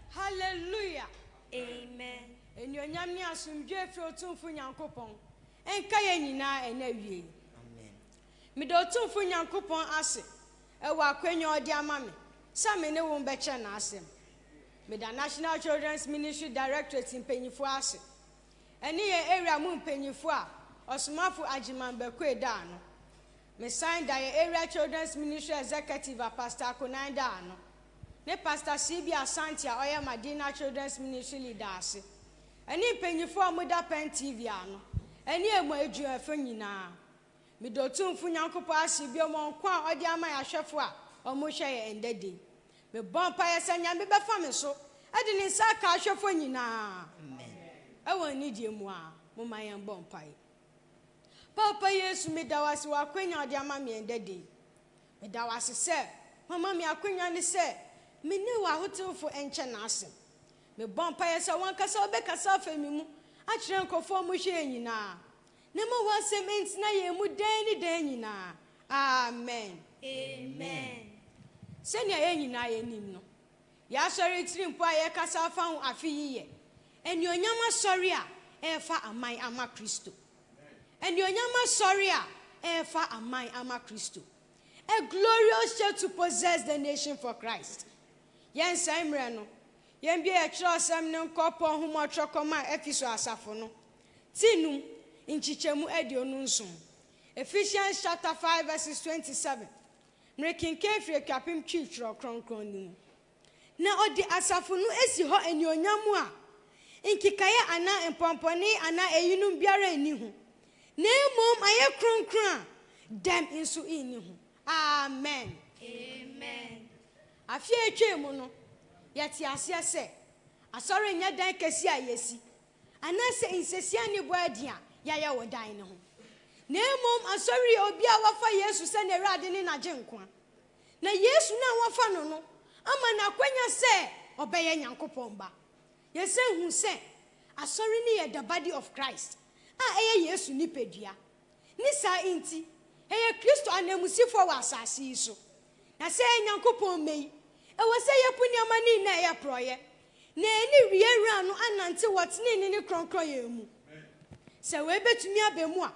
Hallelujah! Amen! Anuonyam ne asomdwoe firi Otumfo Nyankopɔn nka yɛn nyinaa ɛnnɛ awiei. Amen! Meda Otumfo Nyankopɔn ase wɔ akwanya a ɔde ama me sɛ me ne wo mbɛkyerɛ N'asɛm. Meda National Children's Ministry Directorate mpanyinfoɔ ase, ɛne yɛn area mu mpanyinfoɔ a Ɔsomafo Agyeman Bɛkue daa ano. Mesan da yɛn Area Children's Ministry Executive a Pastor Akonai da ano, ne Pastor CB Asante a ɔyɛ Madina Children's Ministry Leader ase, ɛne mpanyimfo a wɔda Pen TV ano, ɛne emu adwumayɛfo nyinaa. Meda Otumfo Nyankopɔn ase bio ma nko a ɔde ama yɛn ahwɛfo a wɔhwɛ yɛn nnɛ da yi. Mebɔ mpaeɛ sɛ Nyame bɛfa me so de ne nsa aka ahwɛfo nyinaa wɔ anidie mu a. Momma yɛn bɔ mpaeɛ. Paapa Yesu, meda wo ase wɔ akwanya a wode ama me ɛndɛ da yi. Meda wo ase sɛ woama me akwanya no sɛ me ne w'ahotewfo nkyɛ n'asɛm. Mebɔ mpaeɛ sɛ w'ankasa wobɛkasa afa me mu akyerɛ nkurɔfoɔ a wɔhwɛ yɛn nyinaa, na ɛma w'asɛm ntena yɛn mu daa ne daa nyinaa. Amen. Amen. Sɛnea yɛn nyinaa yɛnim no, Yɛn Asɔre atirimpɔ a yɛrekasa afa ho afe yi yɛ, Anuonyam Asɔre a Ɛrefa Aman Ama Kristo. Anuonyam Asɔre a Ɛrefa Aman Ama Kristo. A Glorious Church to Possess the Nation for Christ. Yɛnsɛe mmerɛ no, yɛmbue yɛn kyerɛwsɛm no nkɔ Paul nhoma a ɔtwerɛ kɔmaa Efeso asafo no, ti num, nkyekyɛmu aduonu nson, Ephesians chapter five verses twenty seven. Merekenkan firi Atwapem Twi Twerɛ Kronkron no mu. Na ɔde asafo no asi hɔ anuonyam mu a nkekaeɛ anaa mpɔmpɔnee anaa eyinom biara nni ho, na mmom ayɛ kronkron a dɛm nso nni ho. Amen. Amen. Afe a ɛtwaam no, yɛtee aseɛ sɛ Asɔre nyɛ dan kɛseɛ a yɛasi, anaasɛ nsasia ne bɔ adi a yɛayɛ wɔ dan no ho, na mmom asɔre yɛ obi a wafa Yesu sɛ n'Awurade ne n'Agyenkwa, na Yesu no a wafa no no ama no akwanya sɛ ɔbɛyɛ Nyankopɔn Ba. Yɛsan hu sɛ asɔre no yɛ The Body of Christ, a ɛyɛ Yesu nipadua, Ne saa nti, yɛyɛ Kristo ananmusifo wɔ asase yi so. Na sɛ yɛyɛ Nyankopɔn mma yi, ɛwɔ sɛ yebu nneɛma no nyinaa a ɛyɛ porɔeɛ, na yɛne Wiɛ Wura no anante wɔ tenenee ne kronkronyɛ mu. Sɛ wei bɛtumi aba mu a,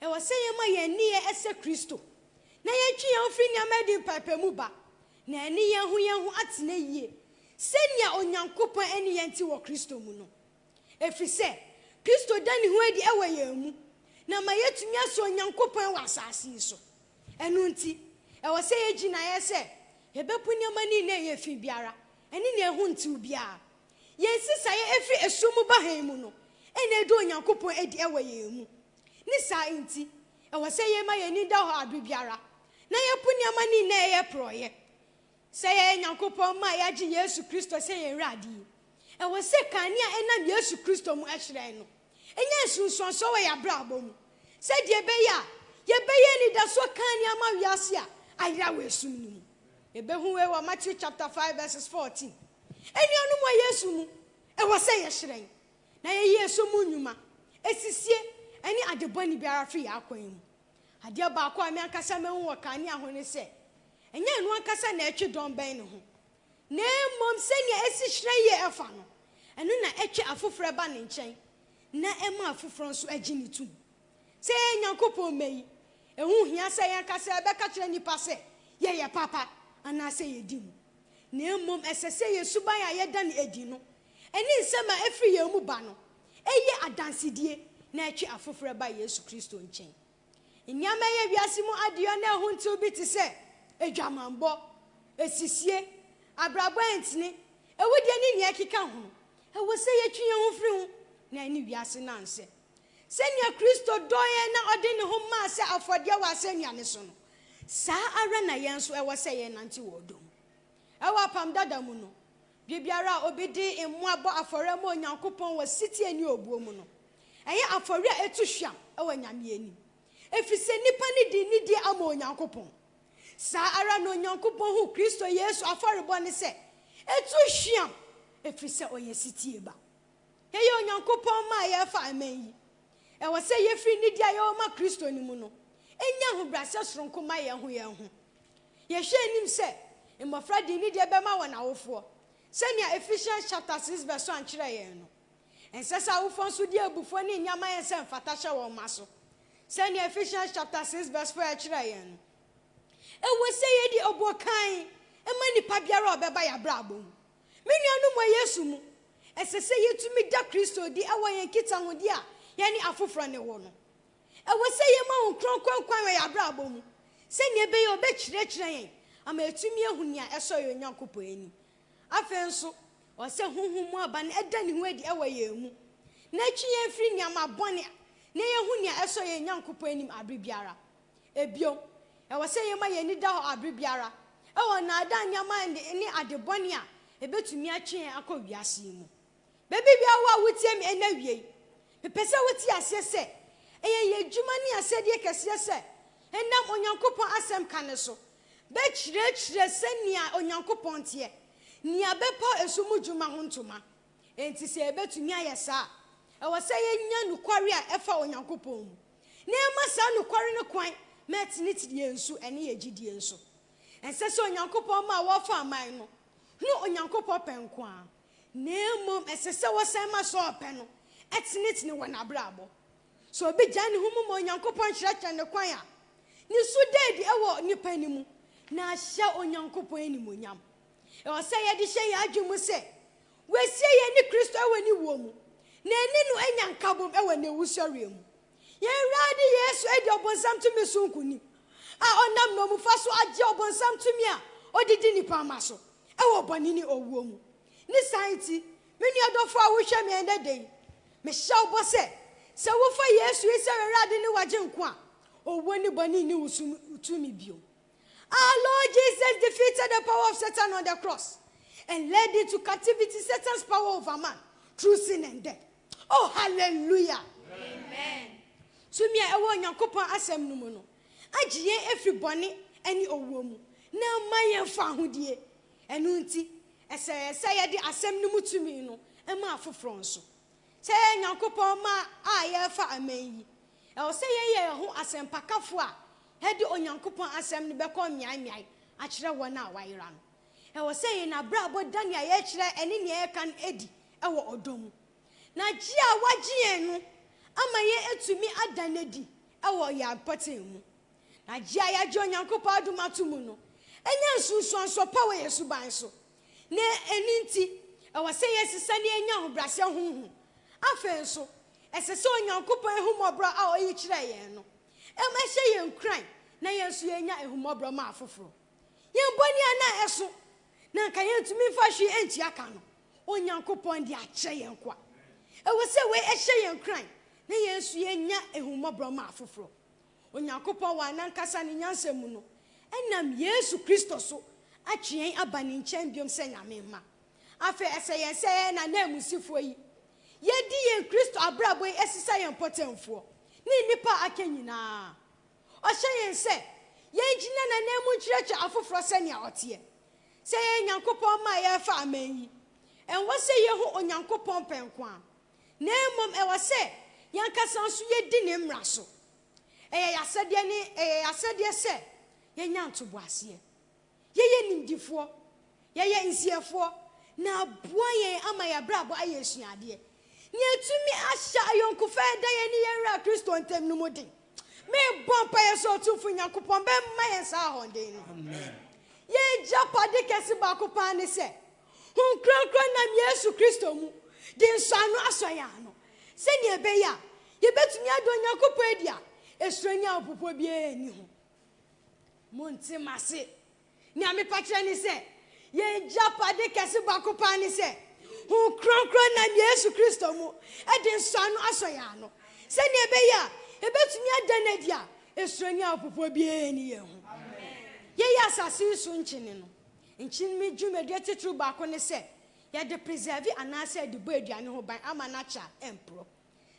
ɛwɔ sɛ yɛma yɛn nneyɛɛ sɛ Kristo, na yɛtwe yɛn ho firi nneɛma a ɛde mpaapaemu ba, na yɛne yɛn ho yɛn ho atena yie, sɛdeɛ Onyankopɔn ne yɛn te wɔ Kristo mu no. Ɛfiri sɛ Kristo da ne ho adi wɔ yɛn mu na ama yɛatumi asɔ Onyankopɔn wɔ asase yi so. Ɛno nti, ɛwɔ sɛ yɛyɛ gyinaeɛ sɛ yɛbɛpo nneɛma no nyinaa a ɛyɛ fi biara ne nea ɛho ntew biara. Yɛn nsesaeɛ ɛfiri ɛsoro mu ba hann mu no na ɛda Onyankopɔn adi wɔ yɛn mu. Ne saa nti, ɛwɔ sɛ yɛma yɛn ani da hɔ bere biara na yɛpo nneɛma no nyinaa a ɛyɛ porɔeɛ. Sɛ yɛyɛ Nyankopɔn mma a yɛagye Yesu Kristo sɛ yɛn Wura adie, ɛwɔ sɛ kanea a ɛnam Yesu Kristo mu hyerɛn no nya nsunsuansoɔ wɔ yɛn abrabɔ mu sɛdeɛ ɛbɛyɛ a yɛbɛyɛ anidasoɔ kanea ma wiase a ayera wɔ esum no mu. Yɛbɛhu wei wɔ Matthew chapter five verses fourteen. Anuanom wɔ Yesu mu, ɛwɔ sɛ yɛhyerɛn na yɛyi esum mu nnwuma, asisie, ne adebɔne biara firi yɛn akwan mu. Adeɛ baako a me ankasa mahu wɔ kanea ho ne sɛ, ɛnyɛ ɛno ankasa na ɛtwe dɔn bɛn ne ho, na mmom sɛnea ɛsi hyerɛn yie fa no, ɛno na ɛtwe afoforɔ ba ne nkyɛn, na ɛma afoforɔ nso gye no tom. Sɛ yɛyɛ Nyankopɔn mma yi, ɛho nhia sɛ yɛn ankasa yɛbɛka kyerɛ nnipa sɛ yɛyɛ papa anaasɛ yɛdi mu, na mmom ɛsɛ sɛ yɛn suban a yɛda no adi no Ɛne nsɛm a ɛfiri yɛn mu ba no yɛ adansedie na ɛtwe afoforɔ ba Yesu Kristo nkyɛn. Nneɛma a ɛyɛ wiase mu adeyɔ na ɛho ntew bi te sɛ adwamammɔ, asisie, abrabɔ a ɛntene, awudie ne nea ɛkeka ho no, ɛwɔ sɛ yɛtwe yɛn ho firi ho na yɛne wiase no ansɛ. Sɛnea Kristo dɔɔ yɛn na ɔde ne ho maa sɛ afɔdeɛ wɔ asɛnnua no so no, saa ara na yɛn nso ɛwɔ sɛ yɛnante wɔ ɔdɔ mu. Wɔ Apam Dada mu no, Bere biara a obi de mmoa bɔ afɔre ma Onyankopɔn wɔ setie ne obuo mu no, ɛyɛ afɔre a etu hwam wɔ Nyame anim, efisɛ nnipa no de nidi ama Onyankopɔn. Saa ara na Onyankopɔn hu Kristo Yesu afɔrebɔ no sɛ etu hwam efisɛ ɔyɛ setie ba. Yɛyɛ Onyankopɔn mma a yɛrefa aman yi. Ɛwɔ sɛ yefi nidi a yɛwɔ ma Kristo no mu no nya ahobrɛase soronko ma yɛn ho yɛn ho. Yɛhwɛ anim sɛ mmofra de nidi bɛma wɔn awofoɔ, sɛnea Ephesians chapter six verse one kyerɛ yɛn no. Ɛnsɛ sɛ awofoɔ nso de abufuo ne nneɛma a ɛyɛ sɛ mfata hyɛ wɔn mma so, sɛnea Ephesians chapter six verse four kyerɛ yɛn no. Ɛwɔ sɛ yedi obuo kann ma nipa biara a ɔbɛba yɛn abrabɔ mu. Me nuanom wɔ Yesu mu, ɛsɛ sɛ yetumi da Kristo adi wɔ yɛn nkitahodi a yɛne afoforo ne wɔ no. Ɛwɔ sɛ yɛma Honhom Kronkron kwan wɔ yɛn abrabɔ mu sɛnea ɛbɛyɛ a obekyerɛkyerɛ yɛn ama yɛatumi ahu nea ɛsɔ yɛn Onyankopɔn ani. Afei nso, ɛwɔ sɛ honhom mu aba no da ne ho adi wɔ yɛn mu, na etwe yɛn fi nneɛma bɔne a na yehu nea ɛsɔ yɛn Nyankopɔn anim bere biara no ho. Bio, ɛwɔ sɛ yɛma yɛn ani da hɔ bere biara wɔ nnaadaa nneɛma ne ade bɔne a ebetumi atwe yɛn akɔ wiase yi mu. Baabi biara wɔ a wutie me nnɛ awiei, mepɛ sɛ wote aseɛ sɛ ɛyɛ yɛn adwuma ne asɛdeɛ kɛseɛ sɛ yɛnam Onyankopɔn Asɛm ka no so bɛkyerɛkyerɛ sɛnea Onyankopɔn teɛ, nea bɛpaw ɛso mu dwuma ho ntoma. Enti sɛ yebetumi ayɛ saa a, ɛwɔ sɛ yenya nokware a ɛfa Onyankopɔn mu. na yɛma saa nokware no kwan ma ɛtene tiri yɛn nso, ɛne yɛn gyidie nso. Ɛnsɛ sɛ Onyankopɔn mma a wɔfa aman no hunu Onyankopɔn pɛ nko ara, na mmom ɛsɛ sɛ wɔsan ma saa ɔpɛ no tenetene wɔn abrabɔ. Sɛ obi gyae ne ho mu ma Onyankopɔn kyerɛkyerɛ no kwan a, ne su da adi wɔ nnipa no mu, na ahyɛ Onyankopɔn animuonyam. Ɛwɔ sɛ yɛde hyɛ yɛn adwene mu sɛ wɔasie yɛn ne Kristo wɔ ne wuo mu, na yɛne no anya nkabom wɔ ne wusɔreɛ mu. Yɛn Awurade Yesu adi ɔbonsam tumi so nkonim, a ɔnam nnommumfa so agye ɔbonsam tumi a ɔde di nnipa mma so wɔ bɔne ne owuo mu. Ne saa nti, me nua dɔfoɔ a wohwɛ me ɛnnɛ da yi, mehyɛ wo bɔ sɛ, sɛ wofa Yesu yi sɛ w'Awurade ne w'Agyenkwa a, owuo ne bɔne nni wo so tumi bio. Our Lord Jesus defeated the power of Satan on the cross and led into captivity Satan's power over man through sin and death. Oh, hallelujah! Amen. Tumi a ɛwɔ Onyankopɔn asɛm no mu no agye yɛn afiri bɔne ne owuo mu na ama yɛn fahodie. Ɛno nti, ɛsɛ yɛn sɛ yɛde asɛm no mu tumi no ma afoforɔ nso. Sɛ yɛyɛ Nyankopɔn mma a yɛrefa aman yi, ɛwɔ sɛ yɛyɛ yɛn ho asɛmpakafoɔ a Yɛde Onyankopɔn Asɛm no bɛkɔ mmeaemmeae akyerɛ wɔn a wɔayera no. Ɛwɔ sɛ yɛn abrabɔ da nea yɛkyerɛ ne nea yɛka no adi wɔ ɔdɔ mu. Na gye a wɔagye yɛn no ama yɛatumi ada no adi wɔ yɛn mpɔtam mu. Na gye a yɛagye Onyankopɔn adom ato mu no nya nsunsuansoɔ pa wɔ yɛn suban so, na ɛno nti ɛwɔ sɛ yɛsesa na yɛnya ahobrɛaseɛ honhom. Afei nso, ɛsɛ sɛ Onyankopɔn ahummɔborɔ a ɔyi kyerɛ yɛn no ma ɛhyɛ yɛn nkuran na yɛn nso yɛnya ahummɔborɔ ma afoforɔ. Yɛn bɔne a na ɛso na anka yɛntumi mfa hwee ntua ka no, Onyankopɔn de akyɛ yɛn nkoa. Ɛwɔ sɛ wei hyɛ yɛn nkuran na yɛn nso yɛnya ahummɔborɔ ma afoforɔ. Onyankopɔn wɔ n'ankasa ne nyansa mu no nam Yesu Kristo so atwe yɛn aba ne nkyɛn bio sɛ Nyame mma. Afei ɛsɛ yɛn sɛ yɛyɛ n'ananmusifoɔ yi Yɛadi yɛn Kristo abrabɔ yi asi sɛ yɛn mpɔtamfoɔ ne nnipa a aka nyinaa. Ɔhyɛ yɛn sɛ yɛngyina n'ananmu nkyerɛkyerɛ afoforɔ sɛnea ɔteɛ. Sɛ yɛyɛ Nyankopɔn mma a yɛrefa aman yi, ɛnwɔ sɛ yɛhu Onyankopɔn pɛ nko ara, na mmom ɛwɔ sɛ yɛn ankasa nso yɛdi ne mmara so. Ɛyɛ yɛn asɛdeɛ ne ɛyɛ yɛn asɛdeɛ sɛ yɛnya ntoboaseɛ. Yɛyɛ nimdefoɔ, yɛyɛ nsiɛfoɔ, na aboa yɛn ama yɛn abrabɔ ayɛ asuadeɛ. Nea ɛtumi ahyɛ ayɔnkofa a ɛda yɛn ne yɛn Wura Kristo ntam no mu den. Mebɔ mpaeɛ sɛ Otumfo Nyankopɔn bɛma yɛn saa ahɔden no. Yɛn agyapade kɛse baako paa ne sɛ, Honhom Kronkron nam Yesu Kristo mu de nsɔano asɔ yɛn ano, sɛnea ɛbɛyɛ a yɛbɛtumi ada Onyankopɔn adi a esuro ne ahopopoɔ biara nni ho. Monte m'ase. Nea mepa kyerɛ ne sɛ, yɛn agyapade kɛse baako paa ne sɛ, Honhom Kronkron nam Yesu Kristo mu de nsɔano asɔ yɛn ano, sɛnea ɛbɛyɛ a yebetumi ada no adi a esuani ahopopoɔ biara nni yɛn ho. Yɛyɛ asase yi so nkyene no. Nkyene mu dwumadi atitiriw baako ne sɛ yɛde preserve anaasɛ yɛde bɔ aduane ho ban ama no akyɛ a ɛmporɔ.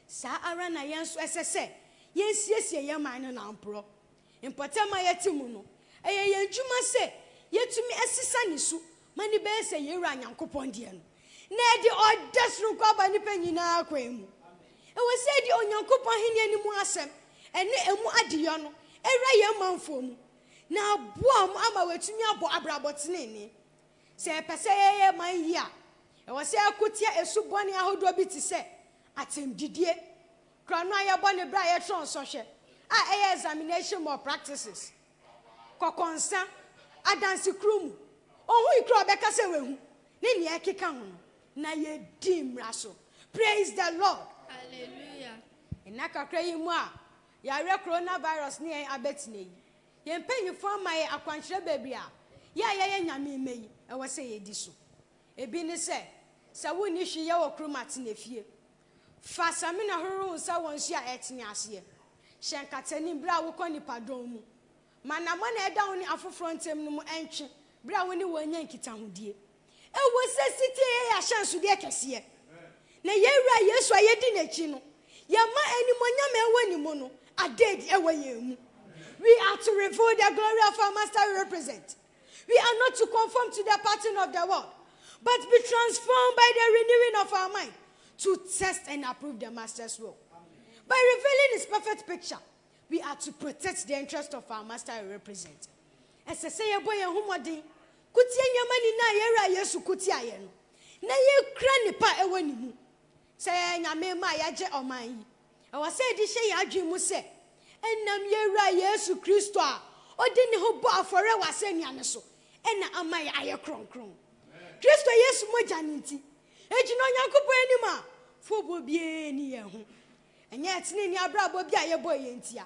Saa ara na yɛn nso ɛsɛ sɛ yensiesie yɛn man no nanporɔ mpɔtam a yɛte mu no. Ɛyɛ yɛn adwuma sɛ yɛatumi asesa ne su ma no bɛyɛ sɛ yɛn Wura Nyankopɔn deɛ no, na ɛde ɔdɛ sononko aba nnipa nyinaa kwan mu. Ɛwɔ sɛ yɛde Onyankopɔn Ahennie no mu asɛm ne emu adeyɔ no wura yɛn manfoɔ mu na aboa wɔn ama wɔatumi abɔ abrabɔ tenenee. Sɛ yɛpɛ sɛ yɛyɛ man yiye a, ɛwɔ sɛ yɛko tia su bɔne ahodoɔ bi te sɛ atɛmdidie, kura no a yɛbɔ no berɛ a yɛtwerɛ nsɔhwɛ a ɛyɛ examination malpractices, kɔkɔnsa, adansekuo mu ohui koro a ɔbɛka sɛ wahu, ne nea ɛkeka ho no, na yɛdi mmara so. Praise the Lord! Hallelujah! Nna kakra yi mu a yɛawerɛ coronavirus ne yɛn abɛtena yi, Yɛn mpanyimfo ama yɛn akwankyerɛ baabi a yɛn a yɛyɛ Nyame mma yi wɔ sɛ yedi so. Ebi ne sɛ, sɛ wunni hwee yɛ wɔ kurom a, tena fie. Fa samina horow nsa wɔ nsu a ɛtene aseɛ. Hyɛ nkataanim bere a wokɔ nnipadɔm mu. Ma anammɔn a ɛda wo ne afoforo ntam no mu ntwe bere a wo ne wɔn nya nkitahodie. Ɛwɔ sɛ setie yɛ yɛn ahyɛnsodeɛ kɛseɛ, na yɛn Wura Yesu a yɛdi N'akyi no, yɛma animuonyam a ɛwɔ Ne mu no ada adi wɔ yɛn mu. We are to reveal the glory of our Master we represent. We are not to conform to the pattern of the world, but be transformed by the renewing of our mind to test and approve the Master's will. By revealing His perfect picture, We are to protect the interest of our Master and represent Ɛsɛ sɛ yɛbɔ yɛn ho mmɔden ko tia nneɛma nyinaa a yɛn Wura Yesu ko tiaeɛ no, na yɛkura nnepa a ɛwɔ ne mu sɛ yɛyɛ Nyame mma a yɛagye ɔman yi. Ɛwɔ sɛ yɛde hyɛ yɛn adwene mu sɛ ɛnam yɛn Wura Yesu Kristo a ɔde ne ho bɔɔ afɔreɛ wɔ asɛnnua no so na ama yɛn ayɛ kronkron. Kristo Yesu mogya no nti, yɛgyina Onyankopɔn anim a foboɔ biara nni yɛn ho. Ɛnyɛ ɛteneene abrabɔ bi a yɛbɔɔ yɛn ntia,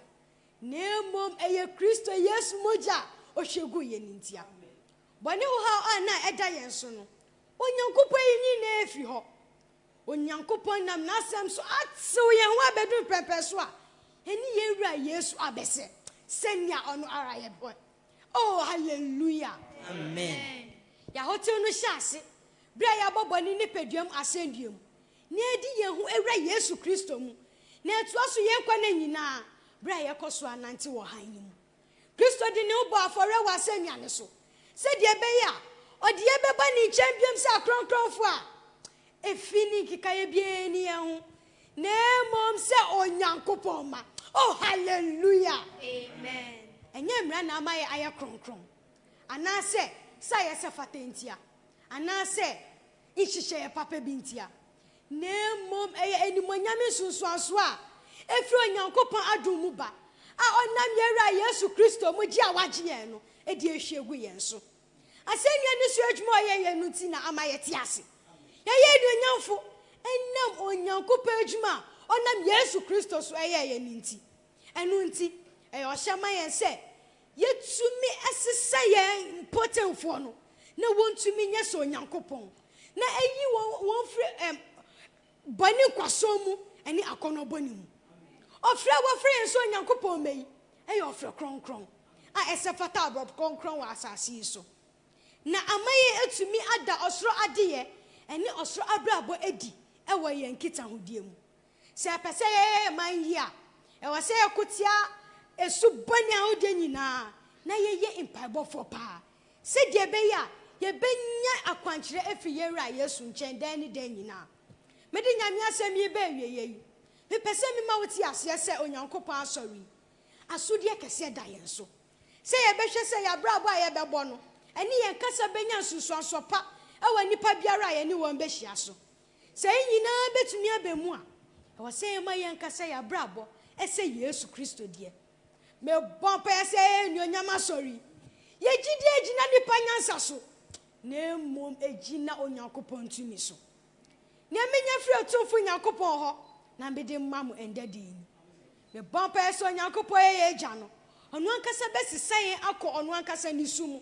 na mmom ɛyɛ Kristo Yesu mogya a ɔhwie guu yɛn no ntia. Bɔne ho haw a na ɛda yɛn so no, Onyankopɔn ayi ne nyinaa afiri hɔ. Onyankopɔn nam N'asɛm so atew yɛn ho abedu mpɛmpɛn so a ɛne yɛn Wura Yesu abɛsɛ sɛnea Ɔno ara yɛ pɛ. Oh, haleluya! Amen! Yɛn ahotew no hyɛɛ ase bere a yɛabɔ bɔne nipaduam asɛndua mu. na edi yɛn ho Awura Yesu Kristo mu, na ɛtoa so yɛn nkwa nna nyinaa bere a yɛkɔ so anantew wɔ hann no mu. Kristo de ne ho bɔɔ afɔre wɔ asennua no so sɛnea ɛbɛyɛ a ɔde yɛn bɛba ne nkyɛn bio sɛ akronkronfo a efi ne nkekae biara nni yɛn ho, na mmom sɛ Onyankopɔn mma. Oh, hallelujah! Amen! Ɛnyɛ mmara na ama yɛayɛ kronkron, anaasɛ sɛ ayɛ sɛ fata ntia, anaasɛ. nhyehyɛeɛ papa bi ntia, na mmom ɛyɛ animuonyam nsunsuansoɔ a ɛfiri Onyankopɔn adom mu ba a ɔnam yɛn Wura Yesu Kristo mu gye a wagye yɛn no de ahwie agu yɛn so. Asɛnnua no so adwuma a ɔyɛeɛ no nti na ama yɛte ase. Yɛyɛ anuonyamfo ɛnam Onyankopɔn adwuma a ɔnam Yesu Kristo so yɛeɛ no nti. Ɛno nti, ɛyɛ ɔhyɛ ma yɛn sɛ yetumi sesa yɛn mpotenfoɔ no na wɔntumi nyɛ sɛ Onyankopɔn, na ayi wɔn firi bɔne nkwasoɔ mu ne akɔnnɔ bɔne mu. Ɔfrɛ a wɔfrɛ yɛn sɛ Onyankopɔn mma yi yɛ ɔfrɛ kronkron a ɛsɛ fata aborɔfo kronkron wɔ asase yi so, na ama yɛatumi ada ɔsoro adeyɛ ne ɔsoro abrabɔ adi wɔ yɛn nkitahodie mu. Sɛ yɛpɛ sɛ yɛyɛ yɛn man yie a, ɛwɔ sɛ yɛko tia su bɔne ahodoɔ nyinaa na yɛyɛ mpaebɔfoɔ paa sɛdeɛ ɛbɛyɛ a yɛbɛnya akwankyerɛ afiri yɛn Wura Yesu nkyɛn daa ne daa nyinaa. Mede Nyame asɛm yi reba awieeɛ yi, mepɛ sɛ mema wo te aseɛ sɛ Onyankopɔn Asɔre yi, asodeɛ kɛseɛ da yɛn so sɛ yɛbɛhwɛ sɛ yɛn abrabɔ a yɛbɛbɔ no ne yɛn kasa bɛnya nsunsuansoɔ pa wɔ nnipa biara a yɛne wɔn bɛhyia so. Sɛ yɛn nyinaa betumi aba mu a, ɛwɔ sɛ yɛma yɛn ankasa yɛn abrabɔ sɛ Yesu Kristo deɛ. Mebɔ mpaeɛ sɛ anuonyam Asɔre yi, yɛn gyidie angyina nnipa nyansa so, na mmom agyina Onyankopɔn tumi so. Nea menya firi Otumfo Nyankopɔn hɔ na mede rema mo ɛnnɛ da yi ni. Mebɔ mpaeɛ sɛ Onyankopɔn a ɔyɛ yɛn Agya no, Ɔno ankasa bɛsesa yɛn akɔ Ɔno ankasa nniso mu.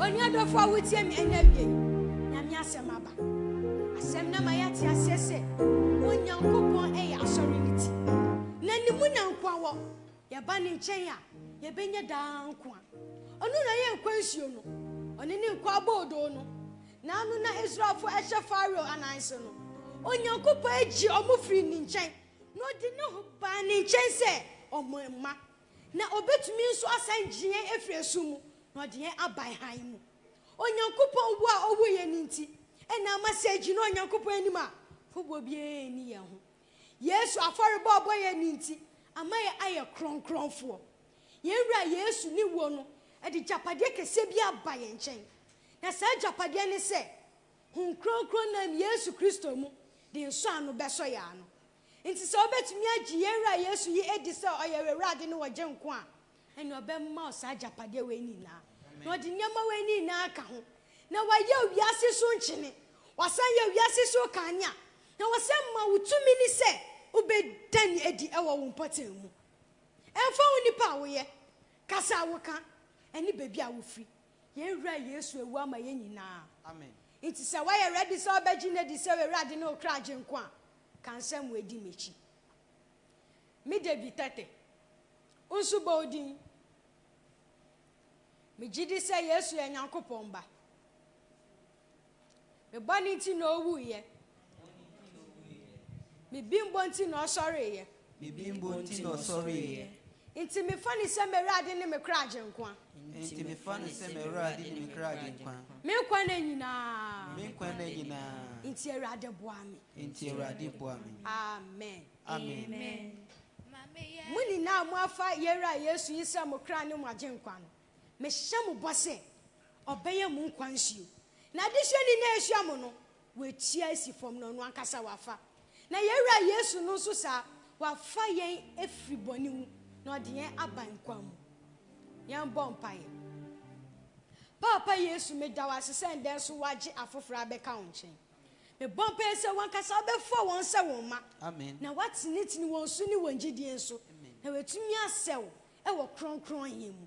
Onua dɔfo a wotie me ɛna awie Nyame asɛm aba. Asɛm na ma yɛate aseɛ sɛ Onyankopɔn ɛyɛ asɔre no ti. Na ne mu na nkoa wɔ. Yɛba ne nkyɛn a, yɛbɛnya daa nkoa. Ɔno na ɔyɛ nkwa nsuo no. Ɔne ne nkoa boodoo no. Na ano na Israelfo ɛhyɛ Farao anan so no. Onyankopɔn ɛgye ɔmo firi ne nkyɛn. Na ɔde ne ho baa ne nkyɛn sɛ ɔmo mma. Na obetumi nso asan gye yɛn afiri ɛso mu na ɔde yɛn aban hann mu. Onyankopɔn wo a ɔwoo yɛn no nti na ama sɛ gyina Onyankopɔn anim a hoboɔ biara nni yɛn ho. Yesu afɔrebɔ a ɔbɔ yɛn no nti ama yɛ ayɛ krɔnkrɔnfoɔ. Yɛn Wura Yesu ne wuo no de gyapadeɛ kɛseɛ bi aba yɛn nkyɛn. Na saa gyapadeɛ ne sɛ Hon Krɔnkrɔn nam Yesu Kristo mu de nsɔano bɛsɔ yɛn ano. Enti sɛ wobɛtumi agye yɛn Wura Yesu yi adi sɛ ɔyɛ w'Awurade ne w'Ɔgyenkwa a, ɛneɛ Ɔbɛma wo saa agyapadeɛ wei ne nyinaa, na Ɔde nneɛma wei ne nyinaa aka ho, na Wayɛ wo wiase so nkyene, Wasan yɛ wo wiase so kanea, na Wasan ma wo tumi ne sɛ wobɛda Ne adi wɔ wo mpɔtam mu. Ɛmfa ho nipa a woyɛ, kasa a woka, ɛne baabi a wofiri, yɛn Wura Yesu awu ama yɛn nyinaa. Enti sɛ woayɛ ready sɛ wobɛgye No adi sɛ w'Awurade ne wo kra Agyenkwa a, Ka nsɛm wei di m'akyi. Me David Tete, wo nso bɔ wo din. Megye di sɛ Yesu yɛ Nyankopɔn Ba. Me bɔne nti na owuiɛ. Me bimbo nti na ɔsɔreeɛ. Me bembuo nti na ɔsɔreeɛ. Nti mefa no sɛ m'Awurade ne me kra Agyenkwa. Nti mefa no sɛ m'Awurade ne me kra Agyenkwa. Me nkwa nna nyinaa. Me nkwa nna nyinaa. Nti Awurade boa me. Nti Awurade boa me. Amen. Amen. Mo nyinaa a moafa yɛn Wura Yesu yi sɛ mo kra ne mo Agyenkwa no, mehyɛ mo bɔ sɛ Ɔbɛyɛ mo nkwa nsuo. N'adesua ni na ɛsua mo no, Watua asi fam na ɔno ankasa wafa. Na yɛn Wura Yesu no nso saa, wafa yɛn afiri bɔne mu na ɔde yɛn aba nkwa mu. Yɛn bɔ mpaeɛ. Paapa Yesu, meda wo ase sɛ ndɛ nso wagye afoforɔ abɛka wo nkyɛn. Mebɔ mpaeɛ sɛ wankasa wobɛfa wɔn sɛ wo mma, na watenetene wɔn so ne wɔn gyidie nso, na watumi asɛ wo wɔ Kronkron he mu.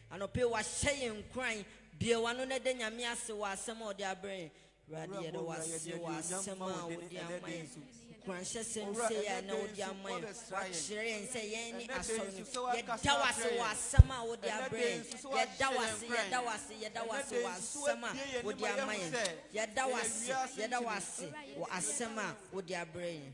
Anɔpa yi wahyɛ yɛn nkuran. Bue w'ano na da Nyame ase wɔ asɛm a ɔde abrɛ yɛn. Awurade yɛda wo ase wɔ asɛm a wode ama yɛn. Nkuranhyɛsɛm sei a ɛnnɛ wode ama yɛn. Woakyerɛ yɛn sɛ yɛn ne Asɔre no. Yɛda wo ase wɔ asɛm a wode abrɛ yɛn. Yɛda wo ase, yɛda wo ase, yɛda wo ase wɔ asɛm a wode ama yɛn. Yɛda wo ase, yɛda wo ase wɔ asɛm a wode abrɛ yɛn.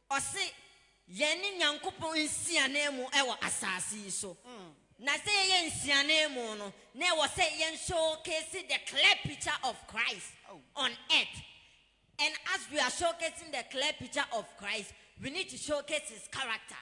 Ɔse yɛn ne Nyankopɔn nsiananmu wɔ asaase yi so. Na sɛ yɛyɛ nsiananmu no, na ɛwɔ sɛ yɛn showcase the clear picture of Christ on earth. And as we are showcasing the clear picture of Christ, we need to showcase His character.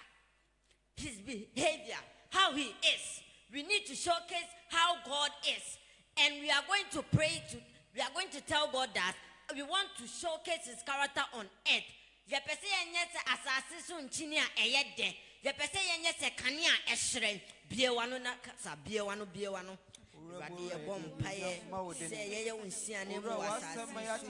his behavior, how he is, we need to showcase how God is and we are going to pray to we are going to tell God that we want to showcase his character on earth. Yɛpɛ sɛ yɛnyɛ sɛ asase so nkyini a ɛyɛ dɛ. Yɛpɛ sɛ yɛnyɛ sɛ kanea a ɛhyerɛn. Bue w'ano na kasa. Bue w'ano, bue w'ano. Awurade, yɛbɔ mpaeɛ sɛ yɛyɛ wo nsiane wɔ asase so.